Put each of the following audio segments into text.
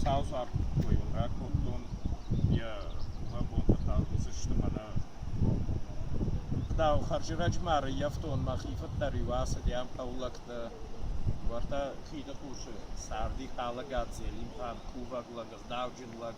саузаркойыл ракодтон йӕ лӕбонтӕ тӕлдзысты мӕнӕ куыдау хӕрзирӕджмӕ ӕрӕййӕфтон мӕхи фыддӕр-иу ацыдӕн хъӕулӕгты уӕртӕ хиды хъусы царди хъалагад зелимхан кувӕг лӕг гъдауджын лӕг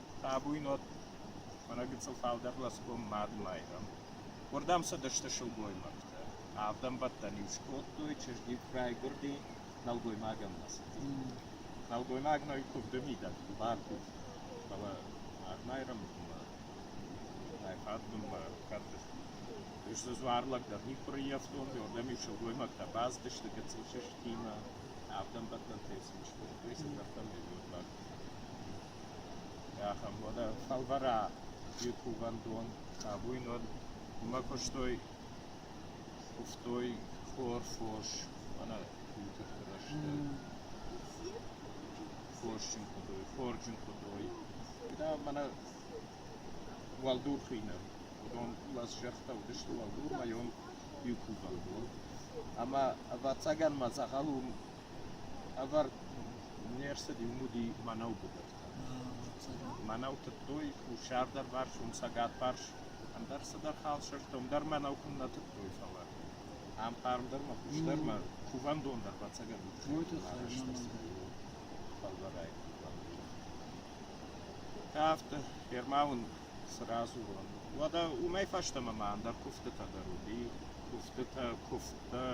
Табуйнот, мӕнӕ гыццыл фалдӕр лӕсгом мадмайрӕм, уырдӕм цыдысты сылгоймӕгтӕ. Авд ӕмбӕттӕн-иу скодтой чызг-иу райгуырди нӕлгоймагӕн мӕсыджы. Нӕлгоймагмӕ куывды мидӕг бар уыд, фӕлӕ мадмайрӕмбынмӕ райхӕлдбынмӕ кӕрты сдзуар лӕг дӕр никуы рыййӕфтон, уырдӕм-иу сылгоймӕгтӕ бацыдысты гыццыл сыстимӕ, авд ӕмбӕттӕнтӕ сын скодтой, цы зӕрдӕмӕ уыд бар. Ахӕм уодӕ фӕлвӕрӕ и кувӕндон абуйнон. Имӕ кустой, кувтой хор, фос, ӕнӕ тутыхты рӕзтӕ. Хосджын худой, хорджын худой. Да мӕнӕ уӕлдурхи нӕ. Уыдон лӕсзӕрдтӕ уыдысты уӕлдурмӕ, ем иу кувӕндон. Ӕмӕ, ӕвӕццӕгӕн, мӕ дзӕгъӕл уым Ӕвӕрд не рцыд иу муди мӕнӕу быдыртӕ. Мӕнӕу тыдтой хуссардӕрвӕрсон, цӕгатварс, ӕндӕр цыдӕр халсӕзтӕ, уым дӕр мӕнӕу куыннӕ тыдтой, фӕлӕ ам хъармдӕрмӕ хуыздӕрмӕ кувӕндон дӕр ӕцӕгӕн арӕзт ӕрцыд фӕлвӕрӕй кувӕндон. Кафты Ермауын цы радзурон, уӕдӕ уымӕй фӕстӕмӕ ма ӕндӕр куывдтытӕ дӕр уыди, куывдтытӕ, куывдтӕ.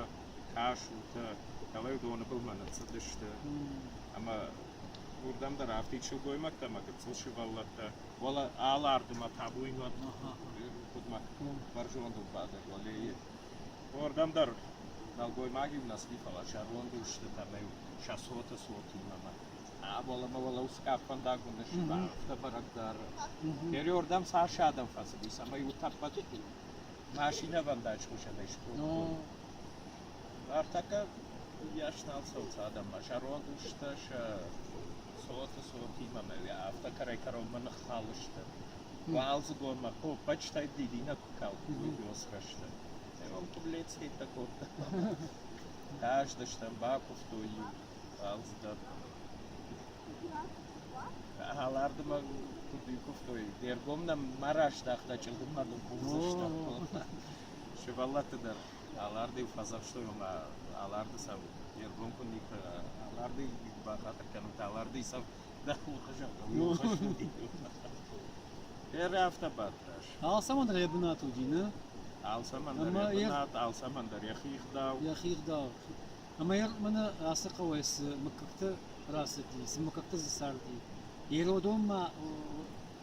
тасутӕ, дӕлӕ доны былмӕ ныццыдысты. Ӕмӕ уырдӕм дӕр афтид сылгоймӕгтӕ ӕмӕ гыццыл сывӕллӕттӕ, фӕлӕ алы ардымӕ табуйн уӕд хъуыдмӕ бӕрзондыл бадӕг уӕлейы. Уырдӕм дӕр нӕлгоймаги нӕцыди, фӕлӕ зӕронд устытӕ-иу сӕ цоты цотимӕ ӕмӕ уӕлӕмӕ уӕлӕ усгӕп фӕндаг уыдысты, афтӕ бӕрӕг дӕр. Гери уырдӕм цас адӕм фӕцыдис ӕмӕ-иу тӕппӕт машинӕвӕндаджы хсӕнӕй схуыдтой. Артаккаг йас нал цӕуц адӕммӕ, зӕронд сты сӕ цоты цотимӕ мӕ афтӕ кӕрӕй-кӕронмӕ ныххалысты. Уалдзыгонмӕ поппачтӕй дидинӕг куы калдтой бёсрӕсты. Ӕрон куыблец хеттӕ кодта. Хъаздыстӕм, бакуывтой иу Алардымӕ куыд куывтой, де ргом нӕм ма раздӕхта, чъылдыммӕ дыл хъусдзыстӕм. Сывӕллӕтты дӕр аларды-иу фӕдзӕхстой, ома аларды цау де ргом куы никуы аларды бахатыр кӕнут, аларды цау дӕ хурхы зӕгъӕм. Ӕры афтӕ бадтас. Алцӕмӕн дӕр йӕ бынат уыди, нӕ? Алцӕмӕн дӕр йӕ бынат, алцӕмӕн дӕр йӕхи ӕгъдау. Йӕхи ӕгъдау. Ӕмӕ мӕнӕ ацы хъӕуӕй цы мыггӕгтӕ рацыди, цы мыггӕгтӕ дзы царди. Ирыдонмӕ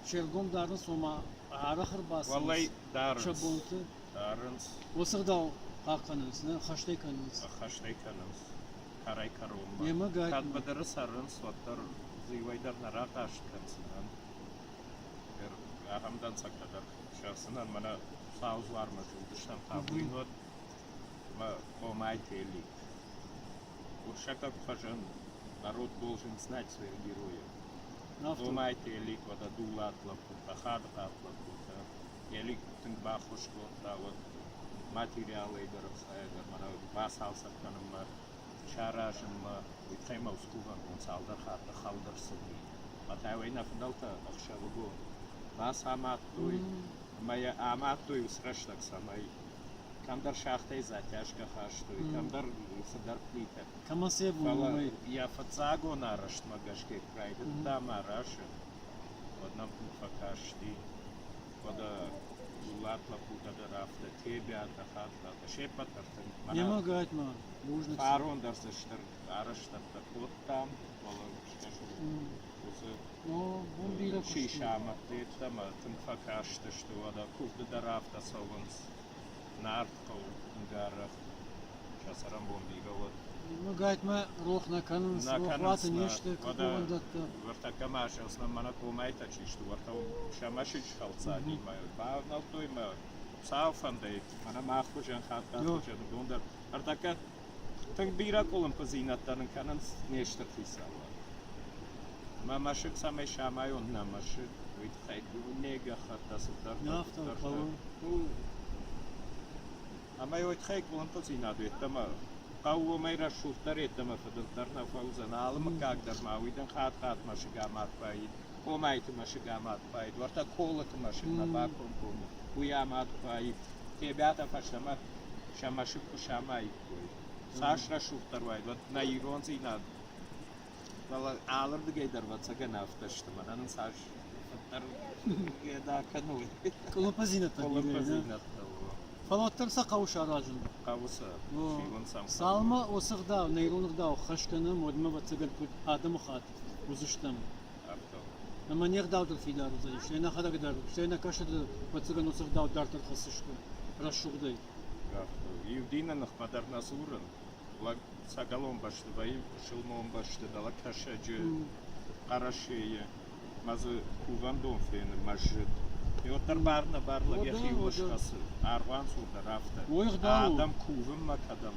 се ргом дарын, цома арӕх ӕрбацӕуынц Уӕлӕй дарынц. сӕ бонты. Дарынц, Уыцы ӕгъдау хъахъхъӕнынц, нӕ ӕххӕстӕй кӕнынц. ӕххӕстӕй кӕнынц кӕрӕй кӕронмӕ. Йемӕ гай- Кӕд быдыры цӕрынц, уӕддӕр дзы иуӕй дӕр нӕ рахъаст кӕндзынӕн. Ӕр- Ахӕм дӕнцӕгтӕ дӕр сӕрсынӕн мӕнӕ Сау дзуармӕ зылдыстӕм, хъавыин уӕд мӕ хомӕй фӕллид. Урсаков фӕзынд, народ должен знать своих героев. Хомӕй фӕллид уӕд Адулат лӕппутӕ, Хадыхъат лӕппутӕ. Елик тынг баххуыс кодта уӕд материалӕй дӕр архайӕг ӕмӕ нӕ бацалцӕг кӕнынмӕ, саразынмӕ. Уый тыххӕй мӕ ускувӕндон цалдӕр хатты хӕлд ӕрцыди. Матаевӕй нӕ фыдӕлтӕ ӕхсӕвыгон бацамадтой ӕмӕ йӕ амадтой ус рӕстӕг цӕмӕй кӕмдӕр сӕгътӕй затяжкӕ хастой, кӕмдӕр фыдӕр плитӕ. Фӕлӕ йӕ фыццагон арӕзтмӕ гӕсгӕ куы райдыдта мӕ расын, уӕд нӕм тынг фӕкасти. Фӕлӕ дулат лӕппутӕ дӕр афтӕ, Тебиатӕ, Хатлатӕ, се ппӕт ӕртын. Фарон дӕр дзы стыр арӕзтӕдтӕ кодтам, фӕлӕ скӕсун Чи самадта йеддӕмӕ, тынг фӕкастысты, уӕдӕ куывды дӕр афтӕ цӕуынц. Нард хъӕу, тынг арӕх сӕ цӕрӕнбон бирӕ уӕд. Ӕгайтма рох нӕ кӕнынц, рохуаты не сты кувӕндӕттӕ. Выртӕккӕ ма азӕлсынӕн мӕнӕ комӕйтӕ чи сты, уӕртӕ сӕ мӕсыджы хӕлцадимӕ бавнӕлдтой мӕ цалфӕндӕй, мӕнӕ мах хуызӕн хатт хуызӕн уыдон дӕр. Ӕртӕккӕ Тынг бирӕ къуылымпыдзинӕдтӕ нын кӕнынц не стыр хицауад. Мӕ мӕсыг цӕмӕй самайон нӕ мӕсыг, уый тыххӕй дунейы гӕххӕттӕ цыдӕр дарддӕр сты. Ӕмӕ уый тыххӕй къуылымпыдзинад йеддӕмӕ хъӕуы уымӕй рӕсугъддӕр йеддӕмӕ фыдындӕр нӕ фӕуыдзӕн. Алы мыггаг дӕр ма уый дын хатт-хатт мӕсыг амард вӕййы. комайты мӕсыг амад хуайы, дуартӕ колыты мӕсыгмӕ бакомкомы, уый амад хуайы. Тебӕтӕ фӕстӕмӕ сӕ мӕсыг куы самаиккой. Цас рӕсугъддӕр уайд, уӕд нӕ ирондзинад. Фӕлӕ алырдыгӕй дӕр ӕвӕццӕгӕн афтӕ сты, мӕнӕ нын цас фӕдӕр да кӕной. Колопазинӕттӕ Колопазинӕттӕ о. Фӕлӕ уӕддӕр сӕ хъӕуы саразын. Хъӕуы сӕ фиуын сӕм. Цалмӕ уыцы гъдау, нӕрон гъдау хӕс кӕнӕм, уӕдмӕ ӕвӕццӕгӕн куыд адӕмыхатт уыдзыстӕм. Ӕмӕ не гъдӕуттыл фидар уыдзӕнис, нӕ нӕхӕдӕг дӕр, стӕй нӕ кӕсӕты фӕццӕгӕн уыцы гъдӕуттӕ дарддӕр хӕссысты рӕсугъдӕй. Иу дины ныхмӕ дӕр нӕ дзурын. Лӕг цӕгӕлон бӕсты вӕййы, пысылмон бӕсты, дӕлӕ Кӕсӕджы, Хъӕрӕсейы мӕ дзы кувӕндон фены мӕсджыт. И уӕддӕр бар-нӕбар лӕг йӕхиуыл схӕцы, аргъуанцурдӕр афтӕ. Адӕм кувынмӕ кӕдӕм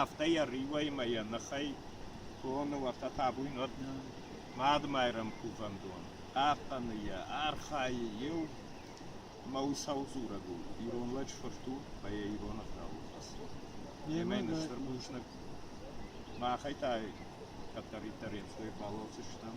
Афтӕ йӕ риуӕй-мӕ йӕ ныхӕй тоны уӕртӕ табуйнаг Мадымайрӕм кувӕндон, хъахъхъӕны йӕ, архайы иу мӕ усау дзурӕг у, ирон лӕджы фырт у ӕмӕ йӕ ирон ӕгъдауыл хӕцы. Немӕ нӕ стыр бузныг. Махӕй та кӕддӕриддӕр ӕнцой фӕллойдзыстӕм.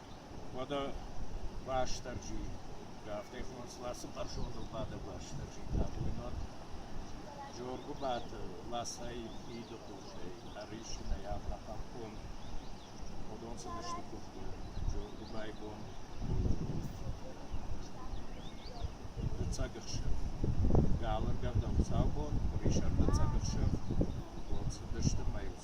Уӕдӕ Уастырджи, афтӕ хонынц Ласы Хъӕрзондыл бадӕг Уастырджи, табуйнаг. Жоргуыбаты ласӕй, фиды хъусӕй ӕрисынӕй ӕртӕхъӕн къуым уыдон цыдысты куывды Жоргуыбайы бон дыццаг ӕхсӕв. Галы ӕргӕвдӕн хуыцаубон, къуырисӕр дыццаг ӕхсӕв, уон цыдысты мӕйыл